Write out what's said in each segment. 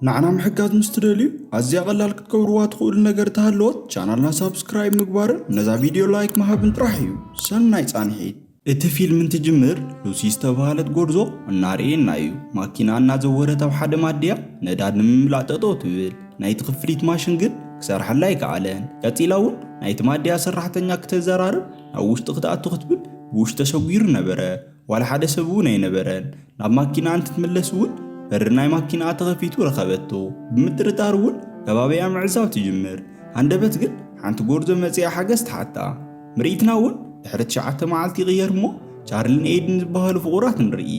ንዓና ምሕጋዝ ምስ ትደልዩ ኣዝያ ቀላል ክትገብርዋ ትኽእሉ ነገር እንተሃለወት ቻናልና ሳብስክራይብ ምግባርን ነዛ ቪድዮ ላይክ ምሃብን ጥራሕ እዩ። ሰናይ ፃንሒት! እቲ ፊልም እንትጅምር ሉሲ ዝተብሃለት ጎርዞ እናርኤና እዩ ማኪና እናዘወረት ኣብ ሓደ ማድያ ነዳድ ንምምላእ ጠጠው ትብል ናይቲ ክፍሊት ማሽን ግን ክሰርሓላ ኣይከኣለን ቀጺላ እውን ናይቲ ማድያ ሰራሕተኛ ክተዘራርብ ናብ ውሽጢ ክትኣቱ ክትብል ብውሽጢ ተሸጒሩ ነበረ ዋላ ሓደ ሰብ እውን ኣይነበረን። ናብ ማኪናኣ እንትትምለስ እውን በሪ ናይ ማኪናኣ ተኸፊቱ ረኸበቶ። ብምጥርጣር እውን ከባቢኣ ምዕዛብ ትጅምር። ሃንደበት ግን ሓንቲ ጎርዞ መፂኣ ሓገዝ ትሓታ። ምርኢትና እውን ድሕሪ ትሽዓተ መዓልቲ ይቕየር እሞ ቻርሊን ኤይድን ዝበሃሉ ፍቑራት ንርኢ።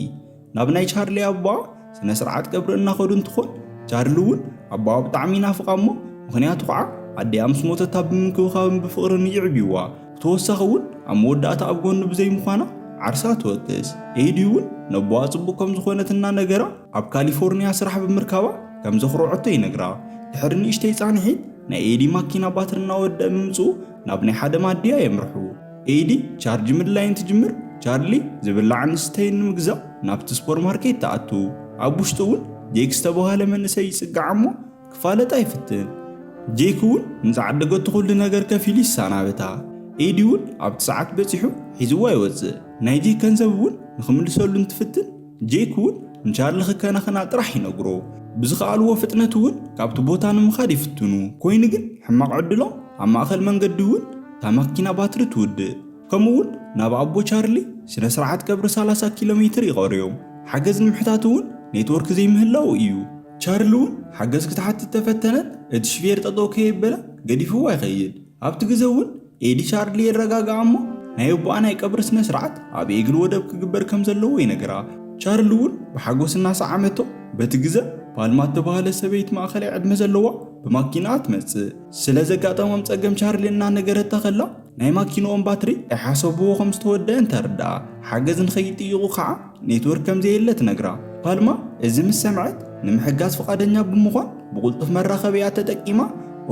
ናብ ናይ ቻርሊ ኣቦኣ ስነ ስርዓት ቀብሪ እናኸዱ እንትኾን ቻርሊ እውን ኣቦኣ ብጣዕሚ ይናፍቓ እሞ ምኽንያቱ ከዓ ኣዲኣ ምስ ሞተታ ብምንክብኻብን ብፍቕርን ይዕብይዋ ብተወሳኺ እውን ኣብ መወዳእታ ኣብ ጎኑ ብዘይምዃና ዓርሳ ትወቅስ። ኤዲ እውን ነቦኣ ፅቡቕ ከም ዝኾነት እናነገራ ኣብ ካሊፎርኒያ ስራሕ ብምርካባ ከም ዘኹረዐቶ ይነግራ። ድሕሪ ንእሽተይ ፃንሒት ናይ ኤዲ ማኪና ባትሪ እናወደኣ ብምፅኡ ናብ ናይ ሓደ ማድያ የምርሑ። ኤዲ ቻርጅ ምድላይ እንትጅምር ቻርሊ ዝብላዕን ዝስተይን ንምግዛእ ናብቲ ስፖር ማርኬት ተኣቱ። ኣብ ውሽጡ እውን ጄክ ዝተብሃለ መንእሰይ ይጽጋዕ እሞ ክፋለጣ ይፍትን። ጄክ እውን ምስ ዓደገቱ ኩሉ ነገር ከፊሉ ይሰናበታ። ኤዲ እውን ኣብቲ ሰዓት በጺሑ ሒዝዋ ይወጽእ። ናይ ጄክ ገንዘብ እውን ንኽምልሰሉ እንትፍትን፣ ጄክ እውን ንቻርሊ ክከናኸና ጥራሕ ይነግሮ። ብዝኸኣልዎ ፍጥነት እውን ካብቲ ቦታ ንምኻድ ይፍትኑ። ኮይኑ ግን ሕማቕ ዕድሎም ኣብ ማእኸል መንገዲ እውን እታ መኪና ባትሪ ትውድእ። ከምኡ እውን ናብ ኣቦ ቻርሊ ስነ ስርዓት ቀብሪ ሰላሳ ኪሎ ሜትር ይቐርዮም። ሓገዝ ንምሕታት እውን ኔትወርክ ዘይምህላዉ እዩ። ቻርሊ እውን ሓገዝ ክትሓትት ተፈተነት እቲ ሽፌር ጠጠው ከየበለ ገዲፍዋ ይኸይድ። ኣብቲ ግዘ እውን ኤዲ ቻርሊ የረጋግዓ እሞ ናይ ኣቦኣ ናይ ቀብሪ ስነ ስርዓት ኣብ ኤግል ወደብ ክግበር ከም ዘለዎ ይነግራ። ቻርሊ እውን ብሓጎስ እናሰዓመቶ በቲ ግዘ ፓልማ እተባህለት ሰበይቲ ማእኸላይ ዕድመ ዘለዋ ብማኪንኣ ትመፅእ። ስለ ዘጋጠሞም ፀገም ቻርሊ እናነገረታ ከላ ናይ ማኪንኦም ባትሪ ከይሓሰብዎ ከም ዝተወደኣ እንተርድኣ ሓገዝ ንኸይጥይቑ ከዓ ኔትወርክ ከም ዘየለ ትነግራ። ፓልማ እዚ ምስ ሰምዐት፣ ንምሕጋዝ ፍቓደኛ ብምዃን ብቕልጡፍ መራኸቢኣ ተጠቂማ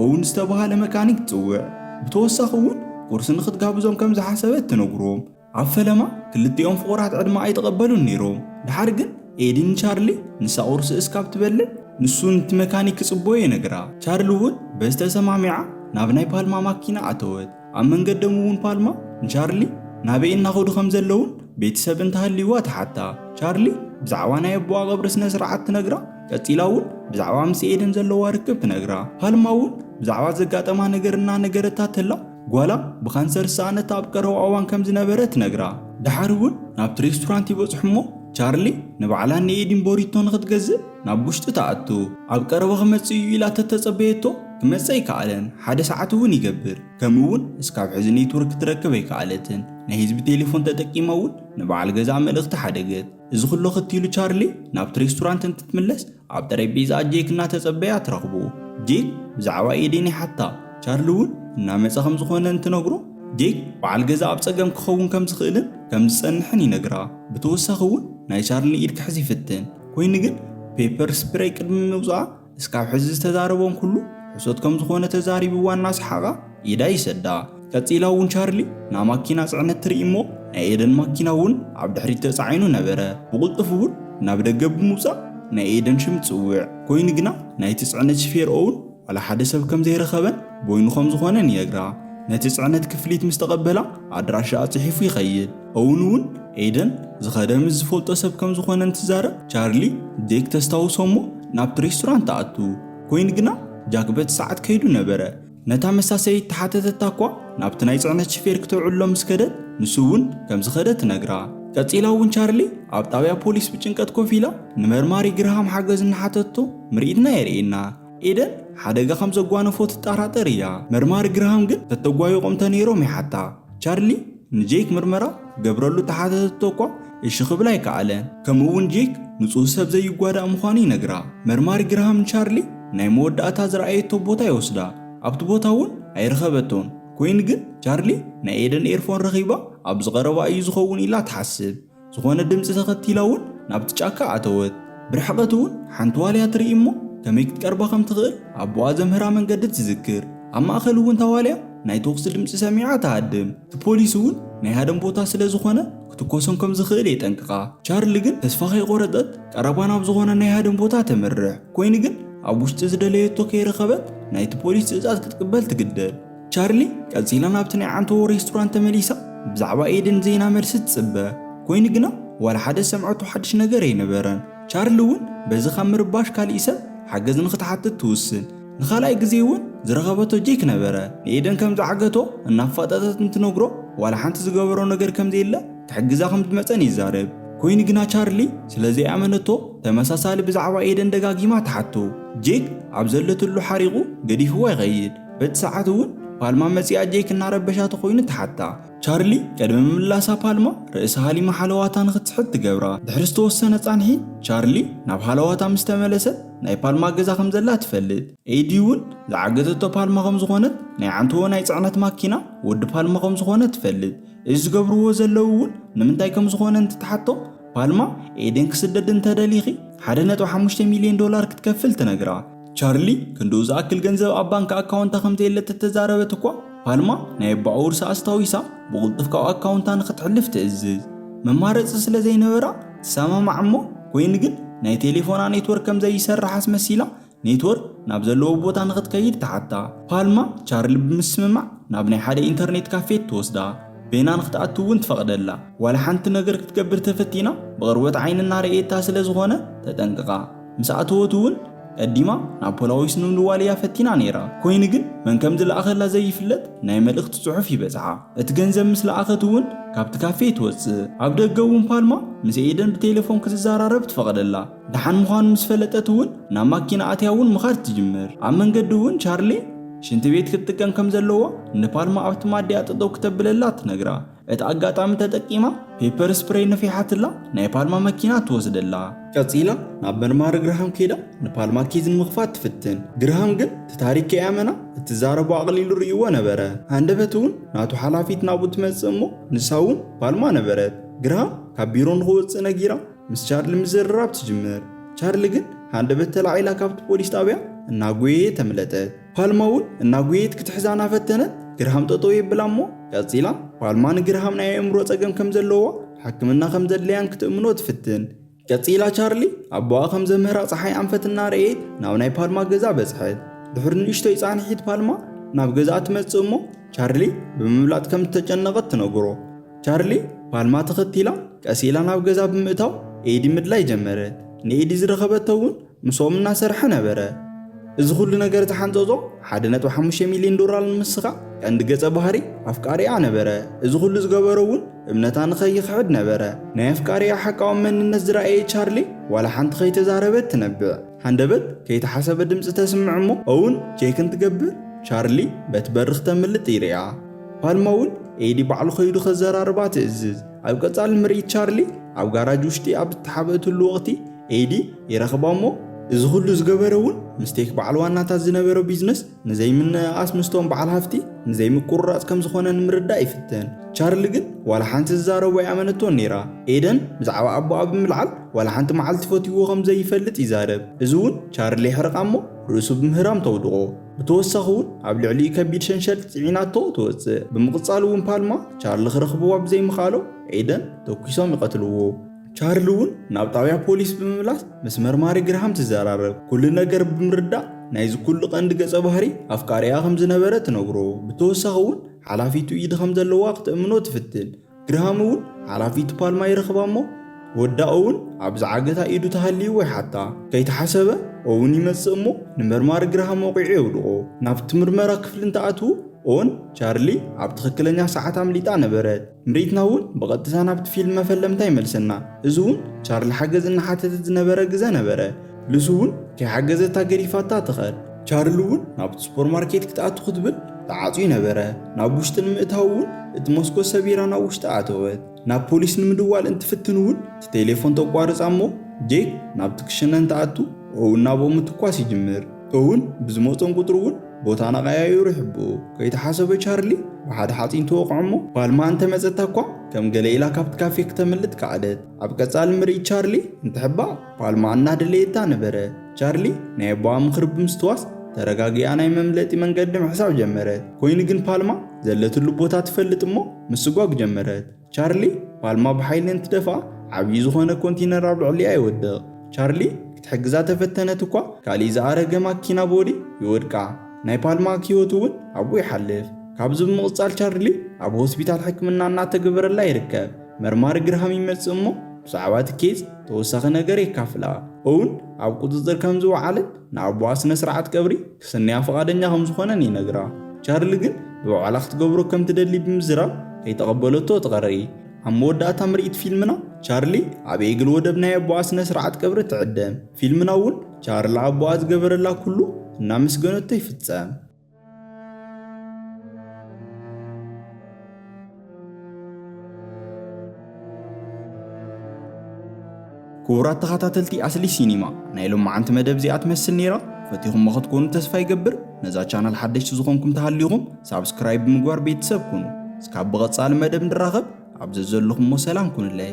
ኦውን ዝተበሃለ መካኒክ ትጽውዕ። ብተወሳኺ እውን ቁርሲ ንኽትጋብዞም ከም ዝሓሰበት ትነግሮም። ኣብ ፈለማ ክልቲኦም ፍቑራት ዕድመ ኣይተቐበሉን ነይሮም። ደሓር ግን ኤዲ ንቻርሊ ንሳ ቁርሲ እስካብ ትበልዕ ንሱ ነቲ መካኒክ ክጽቦዮ ይነግራ። ቻርሊ እውን በዚ ተሰማሚዓ ናብ ናይ ፓልማ ማኪና ኣተወት። ኣብ መንገዶም'ውን ፓልማ ንቻርሊ ናበይ እናኸዱ ከም ዘለዉን ቤተሰብ እንተሃልዩዋ ትሓታ። ቻርሊ ብዛዕባ ናይ ኣቦኣ ቐብሪ ስነ ስርዓት ትነግራ፣ ቀጺላ እውን ብዛዕባ ምስ ኤደን ዘለዋ ርክብ ትነግራ። ፓልማ እውን ብዛዕባ ዘጋጠማ ነገር እናነገረታ ተላ ጓላ ብካንሰር ዝሰኣነት ኣብ ቀረባ እዋን ከም ዝነበረ ትነግራ። ደሓር እውን ናብቲ ሬስቶራንት ይበጽሑ እሞ ቻርሊ ንባዕላን ንኤዲን ቦሪቶ ንኽትገዝእ ናብ ውሽጢ ትኣቱ። ኣብ ቀረባ ክመጽእ እዩ ኢላ ተተጸበየቶ ክመጽ ኣይከኣለን፣ ሓደ ሰዓት እውን ይገብር። ከምኡ እውን እስካብ ሕዚ ኔትወርክ ክትረክብ ኣይከኣለትን፣ ናይ ህዝቢ ቴሌፎን ተጠቂማ እውን ንበዓል ገዝኣ መልእኽቲ ሓደገት። እዚ ኩሉ ኣኸቲሉ ቻርሊ ናብቲ ሬስቶራንት እንትትምለስ ኣብ ጠሬጴዛኣ ጄክ እናተጸበያ ትረኽቦ። ጄክ ብዛዕባ ኤዴን ይሓታ፣ ቻርሊ እውን እናመጸ ከም ዝኾነ እንትነግሮ ጄክ በዓል ገዝኣ ኣብ ጸገም ክኸውን ከም ዝኽእልን ከም ዝጸንሕን ይነግራ። ብተወሳኺ እውን ናይ ቻርሊ ኢድ ክሕዝ ይፍትን፣ ኮይኑ ግን ፔፐር ስፕረይ ቅድሚ ምውጽኣ እስካብ ሕዚ ዝተዛረቦም ኩሉ ሕሶት ከም ዝኾነ ተዛሪብዋ እናሰሓቓ ኢዳ ይሰዳ። ቀጺላ እውን ቻርሊ ናብ ማኪና ጽዕነት ትርኢ እሞ ናይ ኤደን ማኪና እውን ኣብ ድሕሪት ተጻዒኑ ነበረ። ብቕልጡፍ እውን ናብ ደገ ብምውጻእ ናይ ኤደን ሽም ትጽውዕ። ኮይኑ ግና ናይቲ ጽዕነት ሽፌር ኦውን ዋላ ሓደ ሰብ ከም ዘይረኸበን ቦይኑ ከም ዝኾነን ይነግራ። ነቲ ጽዕነት ክፍሊት ምስ ተቐበላ ኣድራሻኣ ጽሒፉ ይኸይድ። ኦውን እውን ኤደን ዝኸደ ምስ ዝፈልጦ ሰብ ከም ዝኾነ እንትዛረብ ቻርሊ ዴክ ተስታውሶ እሞ ናብቲ ሬስቶራንት ትኣቱ። ኮይኑ ግና ጃክ በቲ ሰዓት ከይዱ ነበረ። ነታ መሳሰዪ እተሓተተታ እኳ ናብቲ ናይ ጽዕነት ሽፌር ክተውዕሎ ምስ ከደት ንሱ እውን ከም ዝኸደ ትነግራ። ቀጺላ እውን ቻርሊ ኣብ ጣብያ ፖሊስ ብጭንቀት ኮፍ ኢላ ንመርማሪ ግርሃም ሓገዝ እናሓተትቶ ምርኢትና የርእየና። ኤደን ሓደጋ ከም ዘጓነፎ ትጠራጠር እያ። መርማሪ ግርሃም ግን ተተጓይቖም ተነይሮም ይሓታ። ቻርሊ ንጄክ ምርመራ ክገብረሉ ተሓተተቶ እኳ እሺ ክብል ኣይከኣለን። ከምኡ'ውን ጄክ ንጹህ ሰብ ዘይጓዳእ ምዃኑ ይነግራ። መርማሪ ግርሃም ንቻርሊ ናይ መወዳእታ ዝረኣየቶ ቦታ ይወስዳ። ኣብቲ ቦታ እውን ኣይረኸበቶን። ኮይኑ ግን ቻርሊ ናይ ኤደን ኤርፎን ረኺባ ኣብዚ ቀረባ እዩ ዝኸውን ኢላ ትሓስብ። ዝኾነ ድምጺ ተኸቲላ እውን ናብቲ ጫካ ኣተወት። ብርሕቐት እውን ሓንቲ ዋልያ ትርኢ እሞ ከመይ ክትቀርባ ከም ትኽእል ኣቦኣ ዘምህራ መንገዲ ትዝክር። ኣብ ማእከል እውን እታ ዋልያ ናይ ተኹሲ ድምጺ ሰሚዓ ትሃድም። እቲ ፖሊስ እውን ናይ ሃደን ቦታ ስለ ዝኾነ ክትኮሶም ከም ዝኽእል የጠንቅቓ። ቻርሊ ግን ተስፋ ከይቖረጸት ቀረባ ናብ ዝኾነ ናይ ሃደን ቦታ ተምርሕ። ኮይኑ ግን ኣብ ውሽጢ ዝደለየቶ ከይረኸበት ናይቲ ፖሊስ ትእዛዝ ክትቅበል ትግደድ። ቻርሊ ቀጺላ ናብቲ ናይ ዓንተዎ ሬስቶራንት ተመሊሳ ብዛዕባ ኤደን ዜና መልሲ ትጽበ ኮይኑ ግና ዋላ ሓደ ዝሰምዐቶ ሓድሽ ነገር ኣይነበረን። ቻርሊ እውን በዚ ካብ ምርባሽ ካሊእ ሰብ ሓገዝ ንክትሓትት ትውስን። ንካልኣይ ግዜ እውን ዝረኸበቶ ጄክ ነበረ። ንኤደን ከም ዝዓገቶ እናፋጠጠት እንትነግሮ ዋላ ሓንቲ ዝገበሮ ነገር ከም ዘየለ ክሕግዛ ከም ዝመጸን ይዛረብ። ኮይኑ ግና ቻርሊ ስለ ዘይኣመነቶ ተመሳሳሊ ብዛዕባ ኤደን ደጋጊማ ትሓቶ። ጄክ ኣብ ዘለትሉ ሓሪቑ ገዲፍዋ ይኸይድ። በቲ ሰዓት እውን ፓልማ መጺኣ ጄክ እናረበሻ ተኾይኑ ተሓታ። ቻርሊ ቅድሚ ምምላሳ ፓልማ ርእሲ ሃሊማ ሓለዋታ ንክትስሕት ትገብራ። ድሕሪ ዝተወሰነ ጻንሒ ቻርሊ ናብ ሃለዋታ ምስ ተመለሰ ናይ ፓልማ ገዛ ከም ዘላ ትፈልጥ። ኤዲ እውን ዝዓገተቶ ፓልማ ከም ዝኾነት ናይ ዓንተዎ ናይ ጽዕነት ማኪና ወዲ ፓልማ ከም ዝኾነ ትፈልጥ። እዚ ዝገብርዎ ዘለው እውን ንምንታይ ከም ዝኾነ እንትትሓቶም ፓልማ ኤደን ክስደድ እንተደሊኺ ሓደ ነጥቢ ሓሙሽተ ሚልዮን ዶላር ክትከፍል ትነግራ። ቻርሊ ክንድኡ ዝኣክል ገንዘብ ኣብ ባንክ ኣካውንታ ከም ዘየለ ተተዛረበት እኳ፣ ፓልማ ናይ ኣቦኣ ውርሲ ኣስታዊሳ ብቕልጡፍ ካብ ኣካውንታ ንኽትሕልፍ ትእዝዝ። መማረጺ ስለ ዘይነበራ ትሰማማዕ እሞ ኮይኑ ግን ናይ ቴሌፎና ኔትወርክ ከም ዘይሰርሕ ኣስመሲላ ኔትወርክ ናብ ዘለዎ ቦታ ንኽትከይድ ትሓታ። ፓልማ ቻርሊ ብምስምማዕ ናብ ናይ ሓደ ኢንተርኔት ካፌ ትወስዳ፣ በይና ንኽትኣቱ እውን ትፈቕደላ። ዋላ ሓንቲ ነገር ክትገብር ተፈቲና ብቕርበት ዓይኒ እናረኣየታ ስለ ዝኾነ ተጠንቅቓ። ምስ ኣተወት እውን ቀዲማ ናብ ፖላዊስ ንምድዋል እያ ፈቲና ነይራ። ኮይኑ ግን መን ከም ዝለኣኸላ ዘይፍለጥ ናይ መልእኽቲ ጽሑፍ ይበጽሓ። እቲ ገንዘብ ምስ ለኣኸት እውን ካብቲ ካፌ ትወጽእ። ኣብ ደገ እውን ፓልማ ምስ ኤደን ብቴለፎን ክትዘራረብ ትፈቕደላ። ደሓን ምዃኑ ምስ ፈለጠት እውን ናብ ማኪና ኣትያ እውን ምኻድ ትጅምር። ኣብ መንገዲ እውን ቻርሌ ሽንቲ ቤት ክትጥቀም ከም ዘለዋ ንፓልማ ኣብቲ ማድያ ጠጠው ክተብለላ ትነግራ። እቲ ኣጋጣሚ ተጠቂማ ፔፐር ስፕሬይ ነፊሓትላ ናይ ፓልማ መኪና ትወስደላ። ቀጺላ ናብ መርማሪ ግርሃም ከይዳ ንፓልማ ኬዝ ንምኽፋት ትፍትን። ግርሃም ግን እቲ ታሪክ ከይኣመና እትዛረቦ ኣቕሊሉ ርእይዎ ነበረ። ሃንደበት እውን ናቱ ሓላፊት ናብኡ ትመጽእ እሞ ንሳ እውን ፓልማ ነበረት። ግርሃም ካብ ቢሮ ንኽወጽእ ነጊራ ምስ ቻርሊ ምዝርራብ ትጅምር። ቻርሊ ግን ሃንደበት ተላዒላ ካብቲ ፖሊስ ጣብያ እናጎየየት ኣምለጠት። ፓልማ እውን እናጉየየት ክትሕዛ እናፈተነት ግርሃም ጠጠው የብላ እሞ ቀጺላ ፓልማ ንግርሃም ናይ ኣእምሮ ጸገም ከም ዘለዋ ሕክምና ከም ዘድለያን ክትእምኖ ትፍትን። ቀጺላ ቻርሊ ኣቦኣ ከም ዘምህራ ጸሓይ ኣንፈት እናረእየት ናብ ናይ ፓልማ ገዛ በጽሐት። ድሕሪ ንእሽቶይ ጻንሒት ፓልማ ናብ ገዛኣ ትመጽእ እሞ ቻርሊ ብምብላጥ ከም እተጨነቐት ትነግሮ። ቻርሊ ፓልማ ተኸቲላ ቀስ ኢላ ናብ ገዛ ብምእታው ኤዲ ምድላይ ጀመረት። ንኤዲ ዝረኸበቶ እውን ምስኦም እናሰርሐ ነበረ። እዚ ኹሉ ነገር ዝሓንጸጾ ሓደ ነጥቢ ሓሙሽተ ሚልዮን ዶላር ንምስኻዕ ቀንዲ ገጸ ባህሪ ኣፍቃሪኣ ነበረ። እዚ ኹሉ ዝገበሮ እውን እምነታ ንኸይኽሕድ ነበረ። ናይ ኣፍቃሪኣ ሓቃዊ መንነት ዝረኣየ ቻርሊ ዋላ ሓንቲ ከይተዛረበት ትነብዕ። ሃንደበት ከይተሓሰበ ድምጺ ተስምዕ እሞ ኦውን ቼክ እንትገብር ቻርሊ በቲ በሪ ክተምልጥ ይርእያ። ፓልማ እውን ኤዲ ባዕሉ ከይዱ ከዘራርባ ትእዝዝ። ኣብ ቀጻሊ ምርኢት ቻርሊ ኣብ ጋራጅ ውሽጢ ኣብ እተሓብእትሉ ወቕቲ፣ ኤዲ ይረኽባ እሞ እዚ ኩሉ ዝገበረ እውን ምስቴክ በዓል ዋናታት ዝነበሮ ቢዝነስ ንዘይምንእኣስ ምስቶም በዓል ሃፍቲ ንዘይምቁርራፅ ከም ዝኾነ ንምርዳእ ይፍትን። ቻርሊ ግን ዋላ ሓንቲ ዝዛረቦ ኣይኣመነቶን ነይራ። ኤደን ብዛዕባ ኣቦኣ ብምልዓል ዋላ ሓንቲ መዓልቲ ፈትይዎ ከም ዘይፈልጥ ይዛረብ። እዚ እውን ቻርሊ የሕርቓ እሞ ርእሱ ብምህራም ተውድቖ። ብተወሳኺ እውን ኣብ ልዕሊኡ ከቢድ ሸንሸል ፅዒናቶ ትወፅእ። ብምቕፃል እውን ፓልማ ቻርሊ ክረኽብዋ ብዘይምኽኣሎም ኤደን ተኲሶም ይቐትልዎ። ቻርሊ እውን ናብ ጣብያ ፖሊስ ብምምላስ ምስ መርማሪ ግርሃም ትዘራረብ፣ ኩሉ ነገር ብምርዳእ ናይዚ ኩሉ ቀንዲ ገፀ ባህሪ ኣፍቃሪኣ ከም ዝነበረ ትነግሮ፣ ብተወሳኺ እውን ሓላፊቱ ኢድ ከም ዘለዋ ክተእምኖ ትፍትን፣ ግርሃም እውን ሓላፊቱ ፓልማ ይረኽባ እሞ ወዳ ኦውን ኣብ ዝዓገታ ኢዱ ተሃልይዎ ይሓታ፣ ከይተሓሰበ ኦውን ይመፅእ እሞ ንመርማሪ ግርሃም ወቒዑ የውድቖ፣ ናብቲ ምርመራ ክፍሊ እንትኣትዉ ኦን ቻርሊ ኣብ ትኽክለኛ ሰዓት ኣምሊጣ ነበረት። ምርኢትና እውን ብቐጥታ ናብቲ ፊልም መፈለምታ ይመልሰና። እዚ እውን ቻርሊ ሓገዝ እናሓተተት ዝነበረ ግዘ ነበረ። ሉሲ እውን ከይሓገዘታ ገዲፋታ ትኸድ። ቻርሊ እውን ናብቲ ሱፐር ማርኬት ክትኣቱ ክትብል ተዓፅዩ ነበረ። ናብ ውሽጢ ንምእታው እውን እቲ መስኮት ሰቢራ ናብ ውሽጢ ኣተወት። ናብ ፖሊስ ንምድዋል እንትፍትን እውን እቲ ቴሌፎን ተቋርፃ እሞ ጄክ ናብቲ ክሽነ እንትኣቱ ኦውን ናብኦም ምትኳስ ይጅምር። ኦውን ብዝመፆም ቁፅሪ እውን ቦታና ቀያይሩ ሕቡኡ ከይተሓሰበ ቻርሊ ብሓደ ሓጺን ተወቕዖ'ሞ ፓልማ እንተ መጸታ'ኳ ከም ገለ ኢላ ካብቲ ካፌ ክተምልጥ ከኣለት። ኣብ ቀጻሊ ምርኢት ቻርሊ እንትሕባእ ፓልማ እናደለየታ ነበረ። ቻርሊ ናይ ኣቦኣ ምኽሪ ብምስትዋስ ተረጋጊኣ ናይ መምለጢ መንገዲ ምሕሳብ ጀመረት። ኮይኑ ግን ፓልማ ዘለትሉ ቦታ ትፈልጥ'ሞ ምስጓግ ጀመረት። ቻርሊ ፓልማ ብሓይሊ እንትደፍኣ ዓብዪ ዝኾነ ኮንቲነር ኣብ ልዕሊኣ ይወድቕ። ቻርሊ ክትሕግዛ ተፈተነት እኳ ካሊእ ዝኣረገ ማኪና ቦዲ ይወድቃ። ናይ ፓልማ ክህይወቱ እውን ኣብኡ ይሓልፍ። ካብዚ ብምቕፃል ቻርሊ ኣብ ሆስፒታል ሕክምና እናተገበረላ ይርከብ። መርማሪ ግርሃም ይመፅእ እሞ ብዛዕባ እቲ ኬዝ ተወሳኺ ነገር የካፍላ። ኦውን ኣብ ቁፅፅር ከምዝወዓለን ንኣቦኣ ስነ ስርዓት ቀብሪ ክስንያ ፍቓደኛ ከም ዝኾነን ይነግራ። ቻርሊ ግን ብባዕላ ክትገብሮ ከም ትደሊ ብምዝራብ ከይተቐበለቶ ትቐሪ። ኣብ መወዳእታ ምርኢት ፊልምና ቻርሊ ኣብ ኤግል ወደብ ናይ ኣቦኣ ስነ ስርዓት ቀብሪ ትዕደም። ፊልምና እውን ቻርሊ ኣቦኣ ዝገበረላ ኩሉ እናመስገነቶ ይፍጸም። ክቡራት ተኸታተልቲ ኣስሊ ሲኒማ ናይ ሎማዓንቲ መደብ እዚኣ ትመስል ነይራ ፈቲኹሞ ክትኮኑ ተስፋ ይገብር ነዛ ቻናል ሓደሽቲ ዝኾንኩም ተሃሊኹም ሳብስክራይብ ብምግባር ቤተሰብ ኩኑ እስካብ ብቐጻሊ መደብ ንራኸብ ኣብ ዘዘለኹሞ ሰላም ኩኑለይ